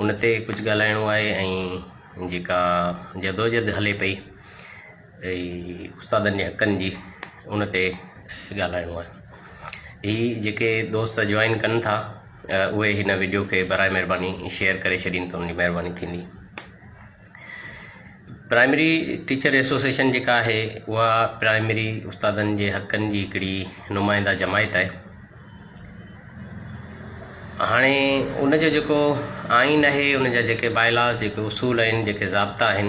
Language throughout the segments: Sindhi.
ان تي ڪجهه ڳالهائڻو آهي ۽ جيڪا جدوجهد هلي پئي استادن جي حقن جي ان تي ڳالهائڻو آهي هي جيڪي دوست جوائن ڪن ٿا اهي هن ويڊيو کي برائي مهرباني شيئر ڪري ڇڏين ته ان جي مهرباني ٿيندي پرائمري ٽيچر ايسوسيئيشن جيڪا آهي اها پرائمري استادن جي حقن جي هڪڙي نمائنده جماعت آهي هاڻي ان جو جيڪو آئين آهي ان جا جيڪي بائلاز جيڪي اصول آهن جيڪي ضابطا آهن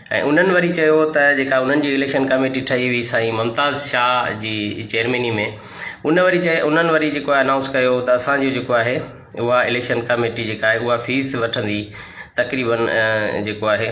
۽ انهن وري چيو ته جيڪا انهن جي اليڪشن ڪميٽي ٺهي هئي سائين ممتاز شاهه جي چيئرميني ۾ ان وري چي انهن وري جيڪو آهي انائونس ڪيو ته اسان جو جيڪو آهي اها اليڪشن ڪميٽي جيڪا آهي اها فيس وٺندي تقريبن جيڪو آهي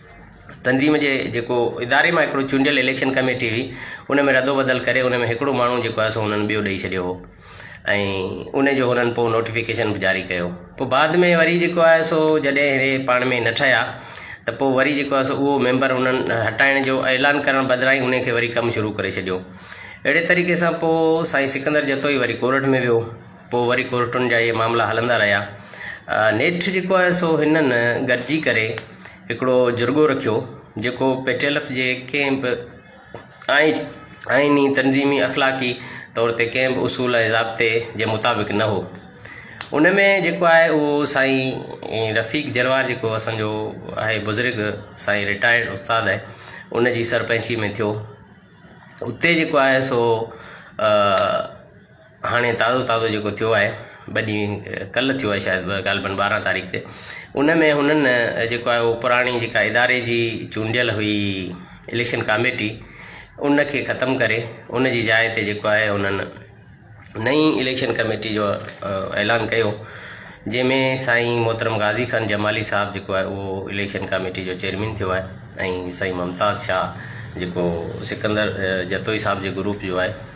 تنظيم جي جيڪو اداري مان هڪڙو چونڊيل اليڪشن ڪميٽي هئي ان ۾ ردو بدل ڪري ان ۾ هڪڙو ماڻهو جيڪو آهي سو هنن ٻيو ڏئي ڇڏيو هو ۽ ان جو هنن پوء نوٽيفڪيشن به جاري ڪيو پوء بعد ۾ وري جيڪو آهي سو جڏهن هي پاڻ ۾ نه ٺهيا ته پوء وري جيڪو آهي سو اهو ميمبر انهن هٽائڻ جو اعلان ڪرڻ بدران ان کي وري ڪم شروع ڪري ڇڏيو اهڙي طريقي سان پوء سائين سڪندر جتوئي وري ڪورٽ ۾ ويو پوء وري ڪورٽن جا اهي معاملا هلندا رهيا. نيٺ جيڪو آهي سو هنن گڏجي ڪري هڪڙو جرڳو رکيو، جيڪو پيٽيلف جي ڪنهن به آئيني، تنظيمي، اخلاقي طور تي ڪنهن به اصول ۽ ضابطي جي مطابق نه هو. ان ۾ جيڪو آهي اهو سائين رفيق جروار جيڪو اسان جو آهي بزرگ سائين رٽائرڊ استاد آهي ان جي سرپنچي ۾ ٿيو. اتي جيڪو آهي سو هاڻي تازو تازو جيڪو ٿيو آهي ٻه ڏينهن ڪلهه ٿيو آهي شايد غالبن ٻارهن تاريخ تي ان ۾ هنن جيڪو آهي هو پراڻي جيڪا اداري جي چونڊيل هئي اليڪشن ڪاميٽي ان کي ختم ڪري ان جي جاء تي جيڪو آهي هنن نئين اليڪشن ڪاميٽي جو اعلان ڪيو جنهن ۾ سائين محترم غازي خان جمالي صاحب جيڪو آهي اهو اليڪشن ڪاميٽي جو چيئرمين ٿيو آهي ۽ سائين ممتاز شاهه جيڪو سڪندر جتوئي صاحب جي گروپ جو آهي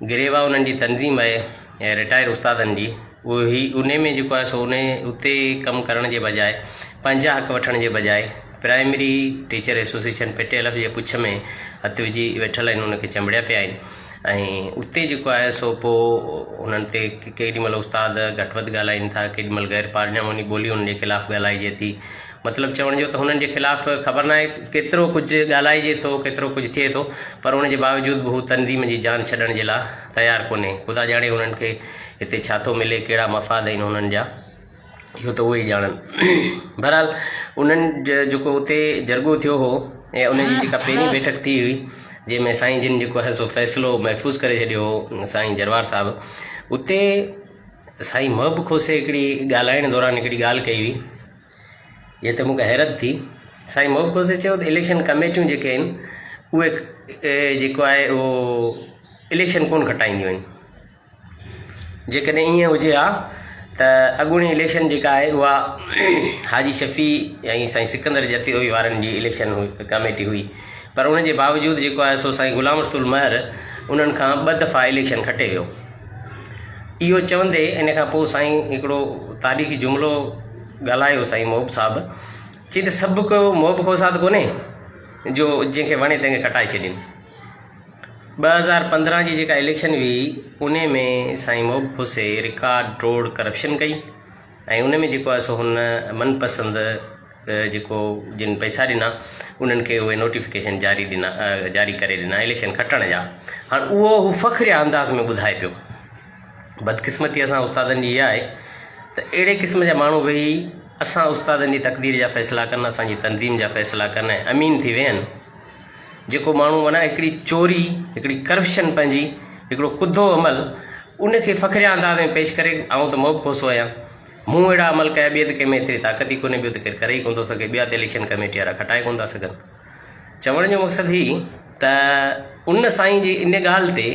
گريوا انهن جي تنظيم آهي ۽ رٽائر استادن جي اهي انهي ۾ جيڪو آهي سو انهي اتي ڪم ڪرڻ جي بجاء پنهنجا حق وٺڻ جي بجاء primary teacher association P T L F جي پڇ ۾ هٿ وجهي ويٺل آهن انهن کي چنبڙيا پيا آهن ۽ اتي جيڪو آهي سو پو انهن تي ڪيڏي مهل استاد گهٽ وڌ ڳالهائين ٿا ڪيڏي مهل غير پارلياماني ٻولي انهن جي خلاف ڳالهائجي ٿي مطلب چوڻ جو ته هنن جي خلاف خبر ناهي ڪيترو ڪجهه ڳالهائجي ٿو ڪيترو ڪجهه ٿئي ٿو پر ان جي باوجود به هو تنظيم جي جان ڇڏڻ جي لاء تيار ڪونهي خدا ڄاڻي هنن کي هتي ڇا ٿو ملي ڪهڙا مفاد آهن هنن جا اهو ته اهي ئي ڄاڻن بهرحال انهن جيڪو اتي جرڳو ٿيو هو ۽ ان جي جيڪا پهرين بيٺڪ ٿي هئي جنهن ۾ سائين جن جيڪو آهي سو فيصلو محفوظ ڪري ڇڏيو هو سائين جروار صاحب اتي سائين محب کوسي هڪڙي ڳالهائڻ دوران هڪڙي ڳالهه ڪئي هئي جنهن تي مون کي حيرت ٿي. سائين محب کوسي چيو ته اليڪشن ڪميٽيون جيڪي آهن اهي جيڪو آهي اهو اليڪشن ڪونه کٽائينديون آهن جيڪڏهن ائين هجي ها ته اڳوڻي اليڪشن جيڪا آهي اها حاجي شفيع ۽ سائين سڪندر جتوئي وارن جي اليڪشن ڪميٽي هئي پر ان جي باوجود جيڪو آهي سو سائين غلام رسول مهر انهن کان ٻه دفعا اليڪشن کٽي ويو اهو چوندي ان کان پوء سائين هڪڙو تاريخي جملو ڳالهايو سائين محب صاحب چي ته سڀ ڪو محب کان ساد ڪونهي جو جنهن کي وڻي تنهن کي ڪٽائي ڇڏين ٻه هزار پندرهن جي جيڪا اليڪشن هئي ان ۾ سائين محب خوسي رڪارڊ ٽوڙ ڪرپشن ڪئي ۽ ان ۾ جيڪو آهي سو هن من پسند جيڪو جن پئسا ڏنا انهن کي اهي نوٽيفڪيشن جاري ڏنا جاري ڪري ڏنا اليڪشن کٽڻ جا هاڻ اهو هو فخريه انداز ۾ ٻڌائي پيو بدقسمتي اسان استادن جي اها آهي ته اهڙي قسم جا ماڻهو ويهي اسان استادن جي تقدير جا فيصلا ڪن اسانجي تنظيم جا فيصلا ڪن ۽ امين ٿي ويهن جيڪو ماڻهو معنيٰ هڪڙي چوري، هڪڙي ڪرپشن پنهنجي، هڪڙو ڪڌو عمل ان کي فخريا انداز ۾ پيش ڪري آئون ته مئو کوسو آهيان، مون اهڙا عمل ڪيا ٻئي ته ڪنهن ۾ ايتري طاقت ئي ڪونهي ٻيو ته ڪير ڪري ئي ڪونه ٿو سگهي ٻيا ته اليڪشن ڪميٽي وارا کٽائي ڪونه ٿا سگهن. چوڻ جو مقصد هي ته ان سائين جي ان ڳالهه تي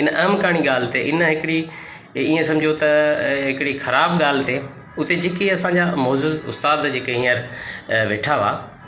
ان اهم ڪاڻي ڳالهه تي ان هڪڙي ائين سمجهو ته هڪڙي خراب ڳالهه تي اتي جيڪي اسان جا معزز استاد جيڪي هينئر ويٺا هئا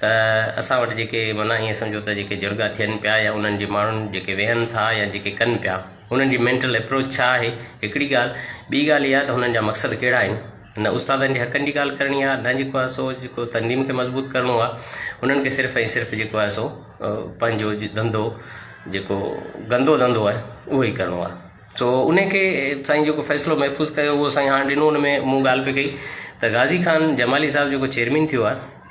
ته اسان وٽ جيڪي معنيٰ ائين سمجهو ته جيڪي جهڙڳا ٿين پيا يا انهن جي ماڻهن جيڪي ويهن ٿا يا جيڪي ڪن پيا انهن جي مينٽل اپروچ ڇا آهي هڪڙي ڳالهه ٻي ڳالهه اها ته هنن جا مقصد ڪهڙا آهن نه استادن جي حقن جي ڳالهه ڪرڻي آهي نه جيڪو آهي سو جيڪو تنظيم کي مضبوط ڪرڻو آهي انهن کي صرف ۽ صرف جيڪو آهي سو پنهنجو ڌنڌو جيڪو گندو ڌنڌو آهي اهو ئي ڪرڻو آهي سو ان کي سائين جيڪو فيصلو محفوظ ڪيو اهو سائين هاڻ ڏنو ان ۾ مون ڳالهه پئي ڪئي ته غازي خان جمالي صاحب جيڪو چيئرمين ٿيو آهي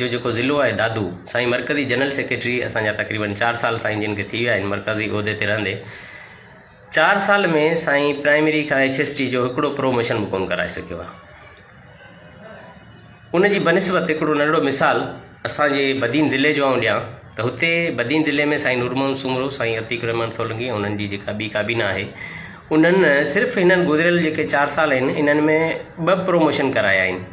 جو جيڪو ضلعو آهي دادو سائين مرڪزي جنرل سيڪريٽري اسان جا تقريبن چار سال سائين جن کي ٿي ويا آهن مرڪزي عهدي تي رهندي چار سال ۾ سائين پرائمري کان ايڇ ايس ٽي جو هڪڙو پروموشن به ڪون ڪرائي سگهيو آهي ان جي بنسبت هڪڙو ننڍڙو مثال اسان جي بدين ضلعي جو آئون ڏيان ته هتي بدين ضلعي ۾ سائين نورمون سومرو سائين عتيق الرحمان سولنگي ۽ انهن جي جيڪا ٻي ڪابينا آهي انهن صرف هنن گذريل جيڪي چار سال آهن انهن ۾ ٻه پروموشن ڪرايا آهن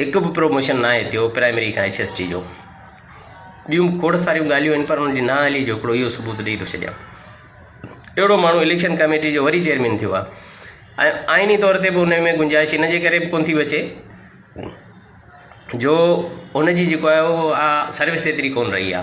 هڪ به پروموشن ناهي ٿيو پرائمري کان ايڇ ايس ٽي جو ٻيون کوڙ ساريون ڳالهيون آهن پر ان جي نااهلي جو هڪڙو اهو ثبوت ڏئي ٿو ڇڏيان اهڙو ماڻهو اليڪشن ڪميٽي جو وري چيئرمين ٿيو آ ۽ آئيني طور تي به ان ۾ گنجائش ان جي ڪري به ڪون ٿي بچي جو ان جي جيڪو آهي اهو سروس ايتري ڪون رهي آ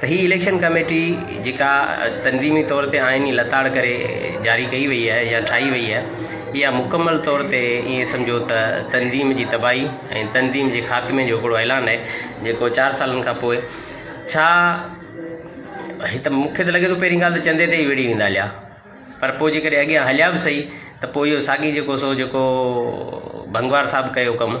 ته هي اليڪشن ڪميٽي جيڪا تنظيمي طور تي آئيني لتاڙ ڪري جاري ڪئي وئي آهي يا ٺاهي وئي آهي اها مڪمل طور تي ائين سمجهو ته تنظيم جي تباهي ۽ تنظيم جي خاتمي جو هڪڙو اعلان آهي جيڪو چار سالن کان پوء ڇا هت مون کي ته لڳي ٿو پهرين ڳالهه ته چندي تي ئي وڙهي ويندا هليا پر پوء جيڪڏهن اڳيان هليا به سهي ته پوء اهو ساڳي جيڪو سو جيڪو ڀنگوار صاحب ڪيو ڪم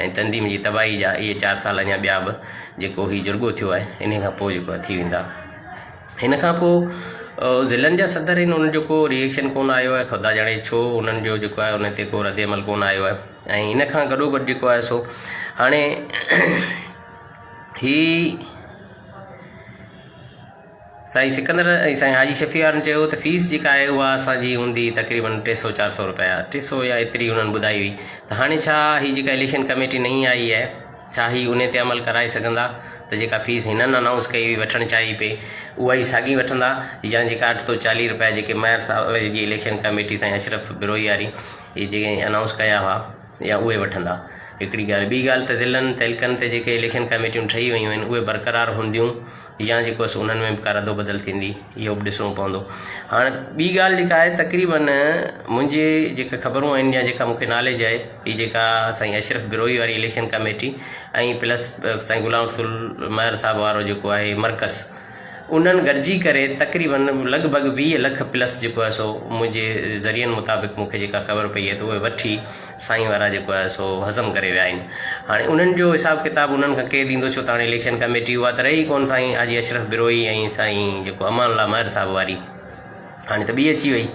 ۽ تنظيم جي تباهي جا اهي چار سال اڃا ٻيا به جيڪو هي جرڳو ٿيو آهي انهي کان پوء جيڪو ٿي ويندا هن کان پوء ضلعن جا صدر آهن انهن جو ڪو ريئيڪشن ڪون آيو آهي خدا ڄاڻي ڇو انهن جو جيڪو آهي ان تي ڪو رد عمل ڪون آيو آهي ۽ ان کان گڏو گڏ جيڪو آهي سو هاڻي هي سائين سڪندر ۽ سائين حاجي شفيعارن چيو ته فيس جيڪا آهي اها اسان جي هوندي تقريبن ٽي سؤ چار سؤ روپيا ٽي سؤ يا ايتري انهن ٻڌائي هئي ته هاڻي ڇا هي جيڪا اليڪشن ڪميٽي نئين آئي آهي ڇا هي انهي تي عمل ڪرائي سگهندا ته جيڪا فيس هنن انائونس ڪئي هئي وٺڻ چاهي پئي اها ئي ساڳي وٺندا يا جيڪا اٺ سؤ چاليهه روپيا جيڪي ميئر صاحب جي اليڪشن ڪميٽي سائين اشرف بروهي واري اهي جيڪي انائونس ڪيا هئا يا اهي وٺندا هڪڙي ڳالهه ٻي ڳالهه ته ضلعن تعلقن تي جيڪي اليڪشن ڪميٽيون ٺهي ويون آهن اهي برقرار هونديون يا جيڪو سو انهن ۾ به ڪا رد بدل ٿيندي اهو به ڏسڻو پوندو هاڻ ٻي ڳالهه جيڪا آهي تقريبن منهنجي جيڪا خبرون آهن يا جيڪا مونکي ناليج آهي هي جيڪا سائين اشرف بروهي واري اليڪشن ڪميٽي ۽ پلس سائين غلام رسول مهر صاحب وارو جيڪو آهي مرڪز انهن گڏجي ڪري تقريبن لڳ ڀڳ ويهه لک پلس جيڪو آهي سو منهنجي ذريعن مطابق مونکي جيڪا خبر پئي آهي ته اهي وٺي سائين وارا جيڪو آهي سو هضم ڪري ويا آهن هاڻي انهن جو حساب ڪتاب انهن کان ڪير ڏيندو ڇو ته هاڻي اليڪشن ڪميٽي اها ته رهي ڪون سائين حاجي اشرف بروهي ۽ سائين جيڪو امان الله مهر صاحب واري هاڻي ته ٻي اچي وئي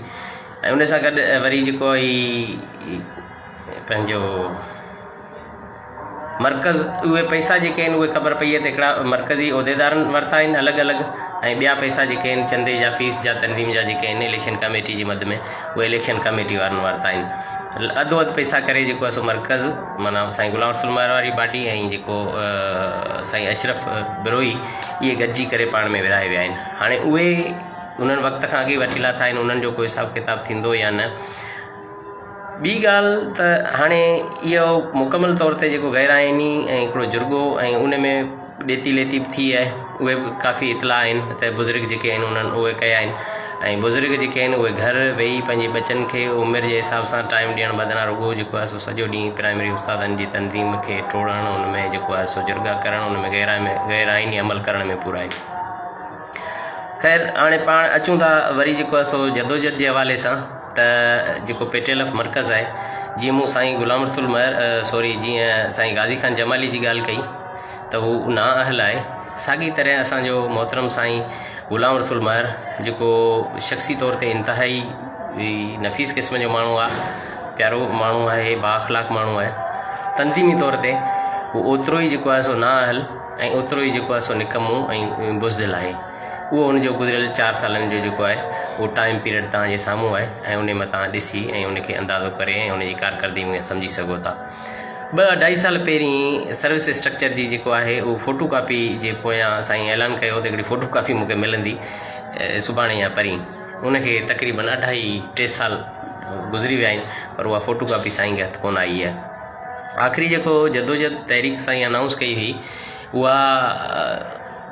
۽ ان سان گڏ وري جيڪو هي پنهنجو مرڪز اهي پئسا جيڪي آهن اهي خبر پئي آهي ته هڪڙا مرڪزي عهديدارن ورتا آهن الڳ الڳ ۽ ٻيا پئسا جيڪي آهن چندي جا فيس جا تنظيم جا جيڪي آهن اليڪشن ڪميٽي جي مد ۾ اهي اليڪشن ڪميٽي وارن ورتا آهن اڌو اڌ پئسا ڪري جيڪو آهي سو مرڪز معنيٰ سائين غلام رسول مهر واري پارٽي ۽ جيڪو سائين اشرف بروهي اهي گڏجي ڪري پاڻ ۾ ورهائي ويا آهن هاڻي اهي انهن وقت کان اڳي وٺي لاٿا آهن انهن جو ڪو حساب ڪتاب ٿيندو يا نه ٻي ڳالهه ته هاڻي اهو مڪمل طور تي جيڪو غير آئيني ۽ هڪڙو جرڳو ۽ ان ۾ ڏيتي ليتي به ٿي آهي اهي به ڪافي اطلاع آهن ته بزرگ جيڪي آهن انهن اهي ڪيا آهن ۽ بزرگ جيڪي آهن اهي گهر ويهي پنهنجي ٻچن کي عمر جي حساب سان ٽائيم ڏيڻ بدران رڳو جيڪو آهي سو سڄو ڏينهن پرائمري استادن جي تنظيم کي ٽوڙڻ ان ۾ جيڪو آهي سو جرڳا ڪرڻ ان ۾ غير آئمي غير آئيني عمل ڪرڻ ۾ پورا آهن خير هاڻي پاڻ اچون ٿا وري جيڪو آهي سو جدوجھد جي حوالي سان ته جيڪو پي ٽي ايل ايف مرڪز آهي جيئن مون سائين غلام رسول مهر سوري جيئن سائين غازي خان جمالي جي ڳالهه ڪئي ته هو نا اهل آهي ساڳي طرح اسانجو محترم سائين غلام رسول مهر جيڪو شخصي طور تي انتهائي نفيس قسم جو ماڻهو آهي پيارو ماڻهو آهي با اخلاق ماڻهو آهي تنظيمي طور تي هو اوترو ئي جيڪو آهي سو نا اهل ۽ اوترو ئي جيڪو آهي سو نڪمو ۽ بزدل آهي اهو ان جو گذريل چار سالن جو جيڪو آهي اهو ٽائيم پيريڊ توهان جي سامهون آهي ۽ ان مان توهان ڏسي ۽ ان کي اندازو ڪري ۽ ان جي ڪارڪردگي ۾ سمجهي سگهو ٿا ٻه اڍائي سال پهرين سروس اسٽرڪچر جي جيڪو آهي اهو فوٽو ڪاپي جي پويان سائين اعلان ڪيو ته هڪڙي فوٽو ڪاپي مونکي ملندي سڀاڻي يا پرين ان کي تقريبن اڍائي ٽي سال گذري ويا آهن پر اها فوٽو ڪاپي سائين کي هٿ ڪونه آئي آهي آخري جيڪو جدوجد تحريڪ سائين انائونس ڪئي هئي اها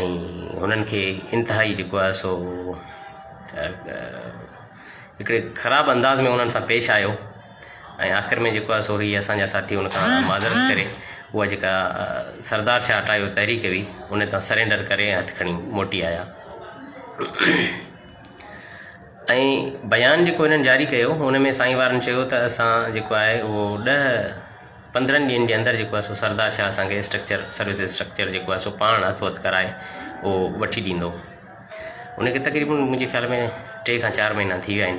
۽ انهن کي انتهائي جيڪو آهي سو هڪڙي خراب انداز ۾ انهن سان پيش آيو ۽ آخر ۾ جيڪو آهي سو هي اسانجا ساٿي ان کان معذرت ڪري اها جيڪا سردار شاهه هٽايو تحريڪ هئي ان تان سرينڊر ڪري ۽ هٿ کڻي موٽي آيا ۽ بيان جيڪو هنن جاري ڪيو ان ۾ سائين وارن چيو ته اسان جيڪو آهي اهو ڏهه پندرهن ڏينهن جي اندر جيڪو آهي سو سردار شاهه اسان کي اسٽرڪچر سروس اسٽرڪچر جيڪو آهي سو پاڻ هٿ وٿ ڪرائي اهو وٺي ڏيندو ان کي تقريبن منهنجي خيال ۾ ٽي کان چار مهينا ٿي ويا آهن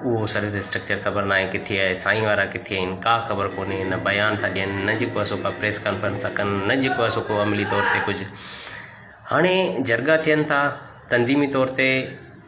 اهو سروس اسٽرڪچر خبر ناهي ڪٿي آهي سائين وارا ڪٿي آهن کا خبر ڪونهي نه بيان ٿا ڏين نه جيڪو آهي سو کا پريس ڪانفرنس ٿا ڪن نه جيڪو آهي سو کو عملي طور تي ڪجهه هاڻي جرڳا ٿين ٿا تنظيمي طور تي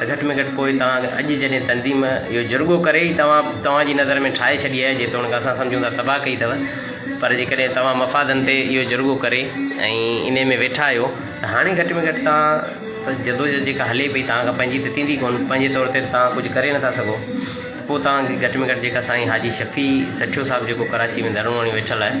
گهٽ ۾ گهٽ پوء توهان اڄ جڏهن تنظيم اهو جرڳو ڪري ئي توهان توهان جي نظر ۾ ٺاهي ڇڏي آهي جيتوڻيڪ اسان سمجهون ٿا تباهه ڪئي اٿو پر جيڪڏهن توهان مفادن تي اهو جرڳو ڪري ۽ انهي ۾ ويٺا آهيو ته هاڻي گهٽ ۾ گهٽ توهان جدوجهد جيڪا هلي پئي توهان کان پنهنجي ته ٿيندي ڪونه پنهنجي طور تي توهان ڪجهه ڪري نٿا سگهو پوء توهان کي گهٽ ۾ گهٽ جيڪا سائين حاجي شفيع سٺيو صاحب جيڪو ڪراچي ۾ ڌرڻو هڻي ويٺل آهي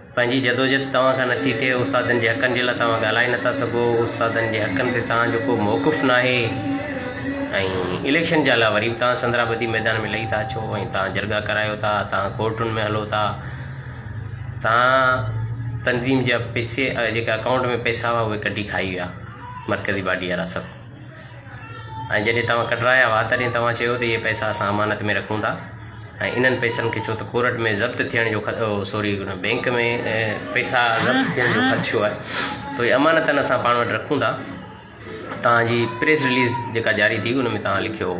پنهنجي جدوجھد توهان کان نٿي ٿئي، استادن جي حقن جي لاء توهان ڳالهائي نٿا سگھو، استادن جي حقن تي توهان جو ڪو موقف ناهي ۽ اليڪشن جا لا وري به توهان سندرا بدي ميدان ۾ لهي ٿا اچو ۽ توهان جرڳا ڪرايو ٿا، توهان ڪورٽن ۾ هلو ٿا، توهان تنظيم جا پيسي جيڪا اڪائونٽ ۾ پئسا هئا اهي ڪڍي کائي ويا مرڪزي باڊي وارا سڀ. ۽ جڏهن توهان ڪڍرايا هئا تڏهن توهان چيو ته اهي پئسا اسان امانت ۾ رکون ٿا ۽ انهن پئسن کي ڇو ته ڪورٽ ۾ ضبط ٿيڻ جو سوري بئنڪ ۾ پئسا ضبط ٿيڻ جو خدشو آهي ته اهي امانتن اسان پاڻ وٽ رکون ٿا تهانجي پريس رليز جيڪا جاري ٿي ان ۾ تهان لکيو هو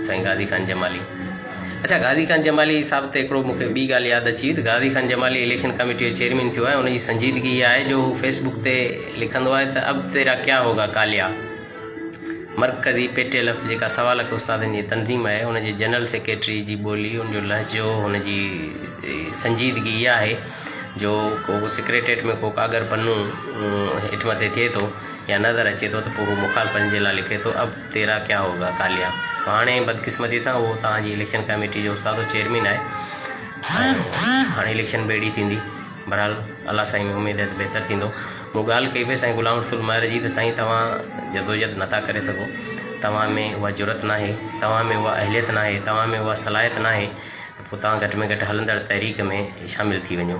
سائين غازي خان جمالي اچا غازي خان جمالي صاحب تي هڪڙو مونکي ٻي ڳالهه ياد اچي وئي ته غازي خان جمالي اليڪشن ڪميٽي جو چيئرمين ٿيو آهي ان جي سنجيدگي اها آهي جو هو فيسبوڪ تي لکندو آهي ته اب تيرا ڪيا هوگا ڪاليا مرڪزي پي ٽي ايل ايف جيڪا سوا لک استادن جي تنظيم آهي ان جي جنرل سيڪريٽري جي ٻولي ان جو لهجو هن جي سنجيدگي اها آهي جو ڪو سيڪريٽريٽ ۾ ڪو ڪاڳر پنو هيٺ مٿي ٿئي ٿو يا نظر اچي ٿو ته پوء هو مخالفن جي لاء لکي ٿو اب تيرا ڪيا هوگا ڪاليا هاڻي بدقسمتي سان اهو توهان جي اليڪشن ڪميٽي جو استاد چيئرمين آهي ۽ هاڻي اليڪشن به اهڙي ٿيندي بهرحال الله سائين ۾ اميد آهي ته بهتر ٿيندو مون ڳالهه ڪئي پئي سائين غلام رسول مهر جي ته سائين توهان جدوجهد نٿا ڪري سگهو توهان ۾ اها جرت ناهي توهان ۾ اها اهليت ناهي توهان ۾ اها صلاحيت ناهي پوء توهان گهٽ ۾ گهٽ هلندڙ تحريڪ ۾ شامل ٿي وڃو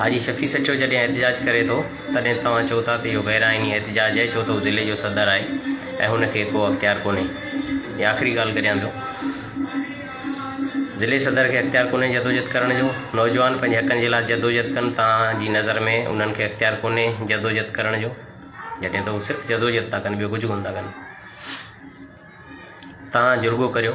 حاجي شفيع سچو جڏهن احتجاج ڪري ٿو تڏهن توهان چئو ٿا ته اهو غير آئيني احتجاج آهي ڇو ته هو ضلعي جو صدر آهي ۽ هن کي ڪو اختيار ڪونهي هي آخري ڳالهه ڪريان ٿو ضلعي صدر کي اختيار ڪونهي جدوجهد ڪرڻ جو نوجوان پنهنجي حقن جي لاء جدوجهد ڪن توهان جي نظر ۾ انهن کي اختيار ڪونهي جدوجهد ڪرڻ جو جڏهن ته هو صرف جدوجهد ٿا ڪن ٻيو ڪجهه ڪونه ٿا ڪن توهان جرڳو ڪريو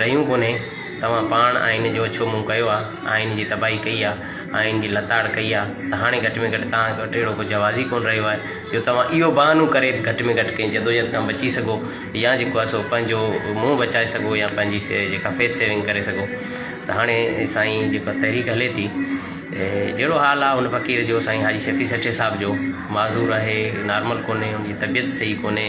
رهيون ڪونهي، توهان پاڻ آئين جو ڇو منهن ڪيو آ، آئين جي تباهي ڪئي آ، آئين جي لتاڙ ڪئي آ ته هاڻي گهٽ ۾ گهٽ توهان وٽ اهڙو ڪو جواز ئي ڪونه رهيو آهي جو توهان اهو بهانو ڪري به گهٽ ۾ گهٽ ڪنهن جدوجهد کان بچي سگهو يا جيڪو آ سو پنهنجو منهن بچائي سگهو يا پنهنجي سي جيڪا فيس سيونگ ڪري سگهو ته هاڻي سائين جيڪا تحريڪ هلي ٿي جهڙو حال آ هن فقير جو سائين حاجي شفيع سٺي صاحب جو معذور آهي نارمل ڪونهي هن جي طبيعت صحيح ڪونهي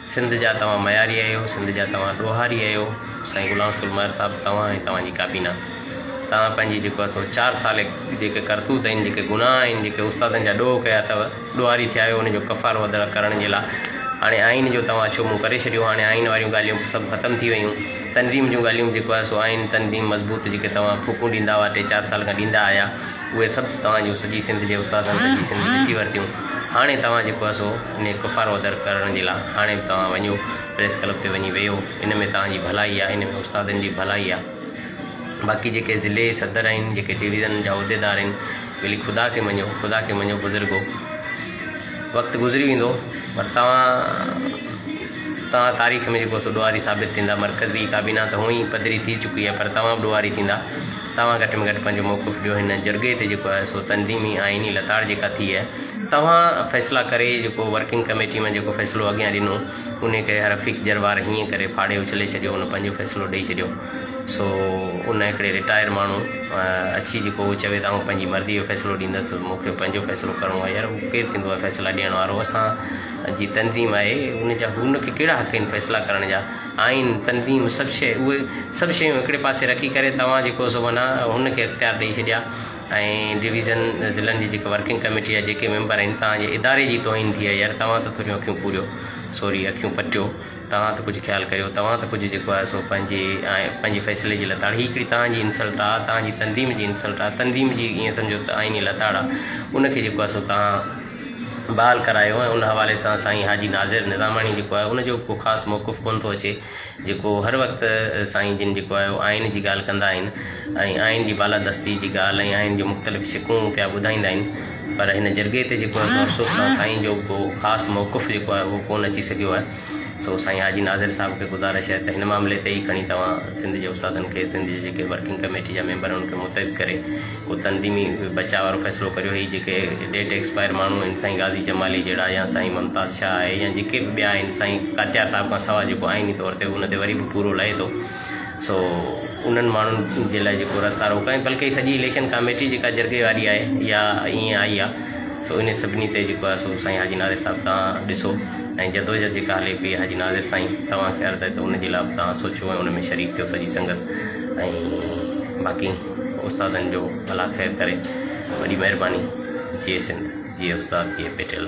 سنڌ جا توهان مياري اهيو سنڌ جا توهان ڏوهاري اهيو سائين غلام رسول مهر صاحب توهان ۽ توهان جي ڪابينا توهان پنهنجي جيڪو آهي سو چار سال جيڪي ڪرتوت آهن جيڪي گناهه آهن جيڪي استادن جا ڏوهه ڪيا اٿو ڏوهاري ٿيا اهيو ان جو ڪفارو ادا ڪرڻ جي لاء هاڻي آئين جو توهان اڇو منهن ڪري ڇڏيو هاڻي آئين واريون ڳالهيون سڀ ختم ٿي ويون تنظيم جون ڳالهيون جيڪو آهي سو آئين تنظيم مضبوط جيڪي توهان ڦوڪون ڏيندا هئا ٽي چار سال کان ڏيندا آهيا اهي سڀ توهان جون سڄي سنڌ جي استادن سڄي سنڌ ڏسي ورتيون هاڻي توهان جيڪو اسو انهي ڪفارو ادر ڪرڻ جي لا هاڻي به توهان وڃو پريس ڪلب تي وڃي ويهو ان ۾ توهان جي ڀلائي آ ان ۾ استادن جي ڀلائي آ باقي جيڪي ضلعي صدر آهن جيڪي ڊويزن جا عهديدار آهن ولي خدا کي مڃو خدا کي مڃو بزرگو وقت گذري ويندو پر توهان توهان تاريخ ۾ جيڪو اسو ڏوهاري ثابت ٿيندا مرڪزي ڪابينا ته هونئي پڌري ٿي چڪي آ پر توهان به ڏوهاري ٿيندا توهان گهٽ ۾ گهٽ پنهنجو موقف ڏيو هن جرڳي تي جيڪو آهي سو تنظيمي آئيني لتاڙ جيڪا ٿي آهي توهان فيصلا ڪري جيڪو ورڪنگ ڪميٽي ۾ جيڪو فيصلو اڳيان ڏنو انهي کي رفيق جروار هيئن ڪري ڦاڙي اڇلي ڇڏيو ان پنهنجو فيصلو ڏئي ڇڏيو سو ان هڪڙي رٽائر ماڻهو اچي جيڪو هو چوي ته آئون پنهنجي مرضي جو فيصلو ڏيندس مونکي پنهنجو فيصلو ڪرڻو آهي يار هو ڪير ٿيندو آهي فيصلا ڏيڻ وارو اسان جي تنظيم آهي ان جا هن کي ڪهڙا حق آهن فيصلا ڪرڻ جا آئين، تنظيم، سڀ شيء، اهي سڀ شيون هڪڙي پاسي رکي ڪري توهان جيڪو سو معنيٰ هن کي اختيار ڏئي ڇڏيا ۽ ڊويزن ضلعن جي جيڪا ورڪنگ ڪميٽي جا جيڪي ميمبر آهن توهان جي اداري جي توهين ٿي آهي يار توهان ته ٿوريون اکيون پوريو سوري اکيون پٽيو توهان ته ڪجهه خيال ڪريو توهان ته ڪجهه جيڪو آهي سو پنهنجي پنهنجي فيصلي جي لتاڙ هي هڪڙي توهان جي انسلٽ آهي توهان جي تنظيم جي انسلٽ آهي تنظيم جي ائين سمجهو ته آئيني لتاڙ آهي ان کي جيڪو آهي سو توهان بحال ڪرايو ۽ ان حوالي سان سائين حاجي ناظر نظاماڻي جيڪو آهي ان جو ڪو خاص موقف ڪونه ٿو اچي جيڪو هر وقت سائين جن جيڪو آهي اهو آئين جي ڳالهه ڪندا آهن ۽ آئين جي بالادستي جي ڳالهه ۽ آئين جون مختلف شقون پيا ٻڌائيندا آهن پر هن جرڳي تي جيڪو آهي سو افسوس سان سائين جو ڪو خاص موقف جيڪو آهي اهو ڪونه اچي سگهيو آهي سو سائين حاجي ناظر صاحب کي گذارش آهي ته هن معاملي تي ئي کڻي توهان سنڌ جي استادن کي سنڌ جي جيڪي ورڪنگ ڪميٽي جا ميمبر ان کي متحد ڪري ڪو تنظيمي بچاء وارو فيصلو ڪريو هي جيڪي ڊيٽ ايڪسپائر ماڻهو آهن سائين غازي جمالي جهڙا يا سائين ممتاز شاهه آهي يا جيڪي به ٻيا آهن سائين ڪاتيار صاحب کان سواء جيڪو آئيني طور تي ان تي وري به پورو لهي ٿو سو انهن ماڻهن جي لاء جيڪو رستا روڪا ۽ بلڪه سڄي اليڪشن ڪاميٽي جيڪا جرڳي واري آهي يا ائين آئي آهي سو ان سڀني تي جيڪو آهي سو سائين حاجي ناظر صاحب تان ڏسو ۽ جدوجهد جيڪا هلي پئي حاجي ناظر سائين توهان کي عرض آهي ته ان جي لاء به تان سوچو ۽ ان ۾ شريڪ ٿيو سڄي سنگت ۽ باقي استادن جو ڀلا خير ڪري وڏي مهرباني جي سنڌ جي استاد جي پيٽيل.